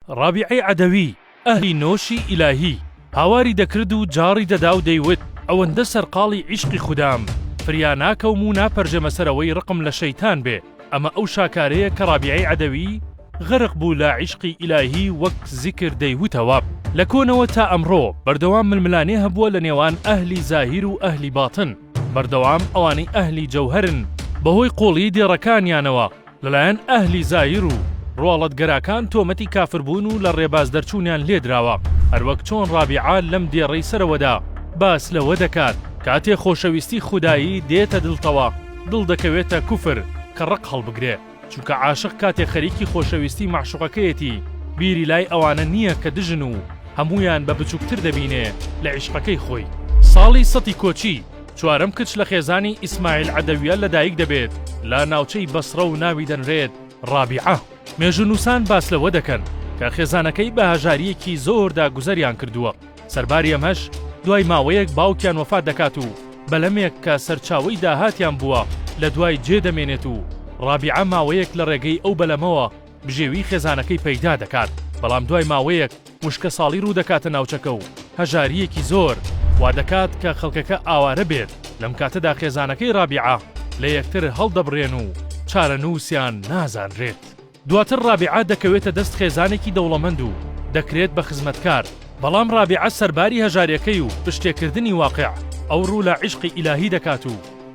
ڕابیعەی عەدەوی، ئەهلی نۆشی ئیلاهی، هاواری دەکرد و جاڕی دەدا و دەیوت، ئەوەندە سەرقاڵی عیشقی خودام، فریا ناکەوم و ناپەرژێمە سەر ئەوەی ڕقم لە شەیتان بێ، ئەمە ئەو شاکارەیە کە ڕابیعەی عەدەوی غەرق بوو لە عیشقی ئیلاهی وەک زیکر دەیوتەوە. لە کۆنەوە تا ئەمڕۆ بەردەوام ململانێ هەبووە لە نێوان ئەهلی زاهیر و ئەهلی باتن، بەردەوام ئەوانەی ئەهلی جەوهەرن بەهۆی قووڵیی دێڕەکانیانەوە، لەلایەن ئەهلی زایر و ڕواڵەتگەراکان تۆمەتی کافربوون و لە ڕێباز دەرچوونیان لێدراوە، هەروەک چۆن ڕابیعە لەم دێڕەی سەرەوەدا باس لەوە دەکات، کاتێ خۆشەویستی خودایی دێتە دڵتەوە، دڵ دەکەوێتە کوفر کە ڕق هەڵبگرێ، چونکە عاشق کاتێ خەریکی خۆشەویستی مەعشوقەکەیەتی بیری لای ئەوانە نییە کە دژن و هەموویان بە بچوکتر دەبینێ لە عیشقەکەی خۆی. ساڵی سەتی کۆچی. چوارەم کچ لە خێزانی ئیسماعیل عەدەویە لەدایک دەبێت لە ناوچەی بەسڕە و ناوی دەنرێت ڕابیعە. مێژوونووسان باس لەوە دەکەن کە خێزانەکەی بە هەژارییەکی زۆردا گوزەریان کردووە، سەرباری ئەمەش دوای ماوەیەک باوکیان وەفات دەکات و بەلەمێک کە سەرچاوەی داهاتیان بووە لە دوای جێ دەمێنێت و ڕابیعە ماوەیەک لە ڕێگەی ئەو بەلەمەوە بژێوی خێزانەکەی پەیدا دەکات بەڵام دوای ماوەیەک وشکەساڵی ڕوودەکاتە ناوچەکە و هەژارییەکی زۆر وادەکات کە خەڵکەکە ئاوارە بێت، لەم کاتەدا خێزانەکەی ڕابیعە لە یەکتر هەڵدەبڕێن و چارەنووسیان نازانرێت. دواتر ڕابیعە دەکەوێتە دەست خێزانێکی دەوڵەمەند و دەکرێت بە خزمەتکار، بەڵام ڕابیعە سەرباری هەژاریەکەی و پشتێکردنی واقع، ئەو ڕوو لە عیشقی ئیلاهی دەکات و،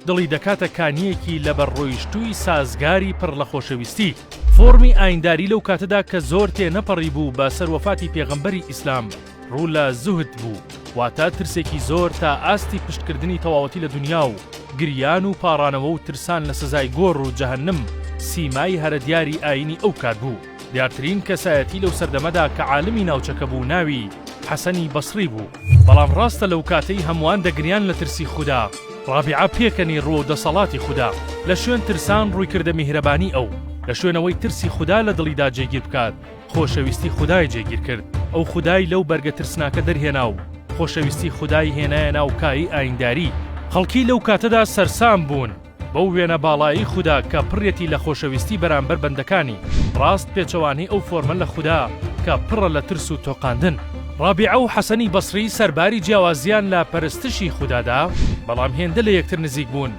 دڵی دەکاتە کانییەکی لەبەر ڕۆیشتووی سازگاری پڕ لە خۆشەویستی، فۆڕمی ئاینداری لەو کاتەدا کە زۆر تێ نەپەڕیبوو بە سەر وەفاتی پێغەمبەری ئیسلام، ڕوو لە زوهد بوو، واتە ترسێکی زۆر تا ئاستی پشتکردنی تەواوەتی لە دونیا و گریان و پاڕانەوە و ترسان لە سزای گۆڕ و جەهەنم سیمای هەرە دیاری ئایینی ئەو کات بوو. دیارترین کەسایەتی لەو سەردەمەدا کە عالمی ناوچەکە بوو ناوی، حەسەنی بەسڕی، بوو، بەڵام ڕاستە لەو کاتەی هەمووان دەگریان لە ترسی خودا، ڕابیعە پێکەنی ڕووەو دەسەڵاتی خودا، لە شوێن ترسان ڕوویکردە میهرەبانی ئەو، لە شوێن ئەوەی ترسی خودا لە دڵیدا جێگیر بکات، خۆشەویستی خودای جێگیر کرد، ئەو خودای لەو بەرگە ترسناکە دەرهێنا و خۆشەویستی خودای هێنایە ناو کایی ئاینداری، خەڵکی لەو کاتەدا سەرسام بوون، بەو وێنە باڵایەی خودا کە پڕیەتی لە خۆشەویستی بەرامبەر بەندەکانی، ڕاست پێچەوانەی ئەو فۆرمە لە خودا کە پڕە لە ترس و تۆقاندن. ڕابیعە و حەسەنی بەسری سەرباری جیاوازیان لە پەرستشی خودادا، بەڵام هێندە لە یەکتر نزیک بوون.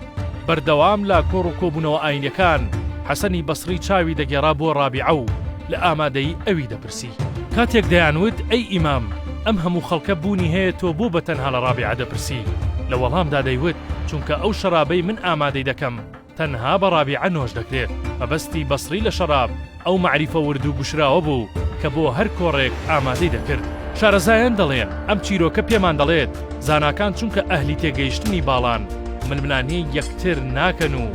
بەردەوام لە کۆڕ و کۆبوونەوە ئاینیەکان، حەسەنی بەسری چاوی دەگێڕا بۆ ڕابیعە و لە ئامادەیی ئەوی دەپرسی. پرسی. کاتێک دەیان وت، ئەی ئیمام، ئەم هەموو خەڵکە بوونی هەیە تۆ بۆ بە تەنها لە ڕابیعە دەپرسی؟ لە وەڵامدا دەیوت، چونکە ئەو شەرابەی من ئامادەی دەکەم تەنها بە ڕابیعە نۆش دەکرێت. مەبەستی بەسری لە شەراب ئەو مەعریفە ورد و گوشراوە بوو کە بۆ هەر کۆڕێک ئامادەی دەکرد. شارەزایان دەڵێن، ئەم چیرۆکە پێمان دەڵێت زاناکان چونکە ئەهلی تێگەیشتنی باڵان، ململانێی یەکتر ناکەن و،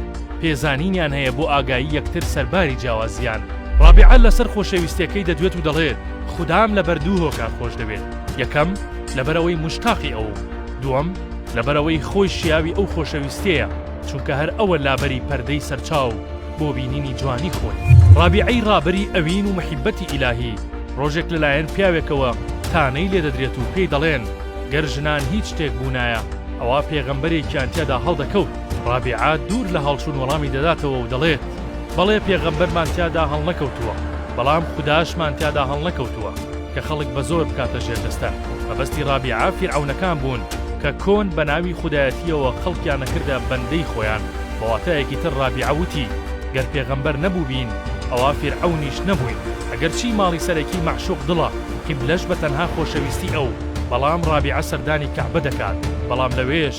پێزانینیان هەیە بۆ ئاگایی یەکتر سەرباری جیاوازیان. ڕابیعە لەسەر خۆشەویستیەکەی دەدوێت و دەڵێت، خودام لەبەر دوو هۆکار خۆشدەوێت، یەکەم، لەبەرئەوەی موشتاقی ئەوم، دووەم، لەبەرئەوەی خۆی شیاوی ئەو خۆشەویستیەیە، چونکە هەر ئەوە لابەری پەردەی سەرچاو بۆ بینینی جوانی خۆی. ڕابیعەی ڕابەری ئەوین و محیبەتی ئیلاهی، ڕۆژێک لەلایەن پیاوێکەوە تانەی لێدەدرێت و پێی دەڵێن، گەر ژنان هیچ شتێک بوونایە، ئەوا پێغەمبەرێکیان تیادا هەڵدەکەوت. ڕابیعە دوور لە هەڵچوون وەڵامی دەداتەوە و دەڵێت، بەڵێ پێغەمبەرمان تیادا هەڵنەکەوتووە، بەڵام خوداشمان تیادا هەڵنەکەوتووە کە خەڵک بە زۆر بکاتە ژێر دەستە. مەبەستی ڕابیعە فیرعەونەکان بوون کە کۆن بە ناوی خودایەتییەوە خەڵکیان ئەکردە بەندەی خۆیان. بە واتایەکی تر ڕابیعە وتی، گەر پێغەمبەر نەبووبین ئەوا فیرعەونیش نەبووین. ئەگەرچی ماڵی سەرەکی مەعشوق دڵە، قیبلەش بە تەنها خۆشەویستی ئەو، بەڵام ڕابیعە سەردانی کەعبە دەکات، بەڵام لەوێش،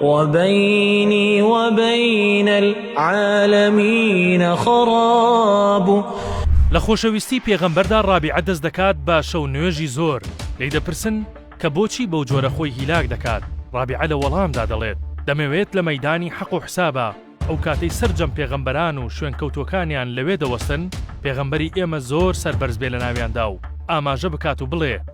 وبینی وبین العالمین خراب. لە خۆشەویستی پێغەمبەردا ڕابیعە دەست دەکات بە شەو نوێژی زۆر، لێی دەپرسن کە بۆچی بەو جۆرە خۆی هیلاک دەکات، ڕابیعە لە وەڵامدا دەڵێت، دەمەوێت لە مەیدانی حەق و حسابا ئەو کاتەی سەرجەم پێغەمبەران و شوێنکەوتووەکانیان لەوێ دەوەستن پێغەمبەری ئێمە زۆر سەربەرز بێ لەناویاندا و ئاماژە بکات و بڵێ،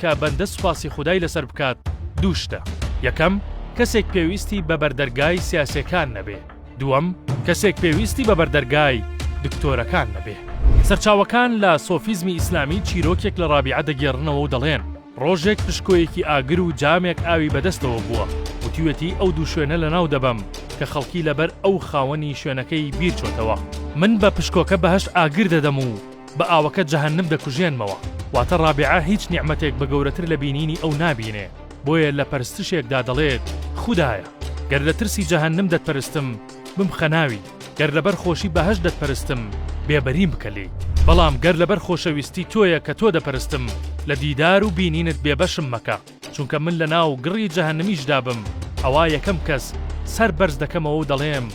کە بەندە سوپاسی خودای لەسەر بکات دوو شتە، یەکەم، کەسێک پێویستی بە بەردەرگای سیاسێکان نەبێ، دووەم، کەسێک پێویستی بە بەردەرگای دکتۆرەکان نەبێ. سەرچاوەکان لە سۆفیزمی ئیسلامی چیرۆکێک لە ڕابیعە دەگێڕنەوە و دەڵێن، ڕۆژێک پشکۆیەکی ئاگر و جامێک ئاوی بە دەستەوە بووە، وتیوێتی ئەو دوو شوێنە لە ناو دەبەم کە خەڵکی لەبەر ئەو خاوەنی شوێنەکەی بیر چۆتەوە، من بە پشکۆکە بەهەشت ئاگر دەدەم و، بە ئاوەکە جەهەنم دەکوژێنمەوە. واتە ڕابیعە هیچ نیعمەتێک بە گەورەتر لە بینینی ئەو نابینێ، بۆیە لە پەرستشێکدا دەڵێت، خودایە! گەر لە ترسی جەهەنم دەتپەرستم، بمخە ناوی، گەر لەبەر خۆشی بەهەشت دەتپەرستم، بێبەریم بکە لێی، بەڵام گەر لەبەر خۆشەویستی تۆیە کە تۆ دەپەرستم، لە دیدار و بینینت بێبەشم مەکە، چونکە من لەناو گڕی جەهەنمیشدا بم، ئەوا یەکەم کەس سەر بەرز دەکەمەوە و دەڵێم،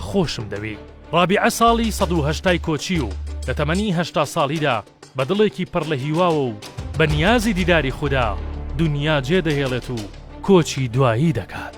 خۆشم دەوێی. ڕابیعە ساڵی سەد و هەشتای کۆچی و لە تەمەنی هەشتا ساڵیدا بە دڵێکی پڕ لە هیواوە و بە نیازی دیداری خودا، دونیا جێ دەهێڵێت و کۆچی دوایی دەکات.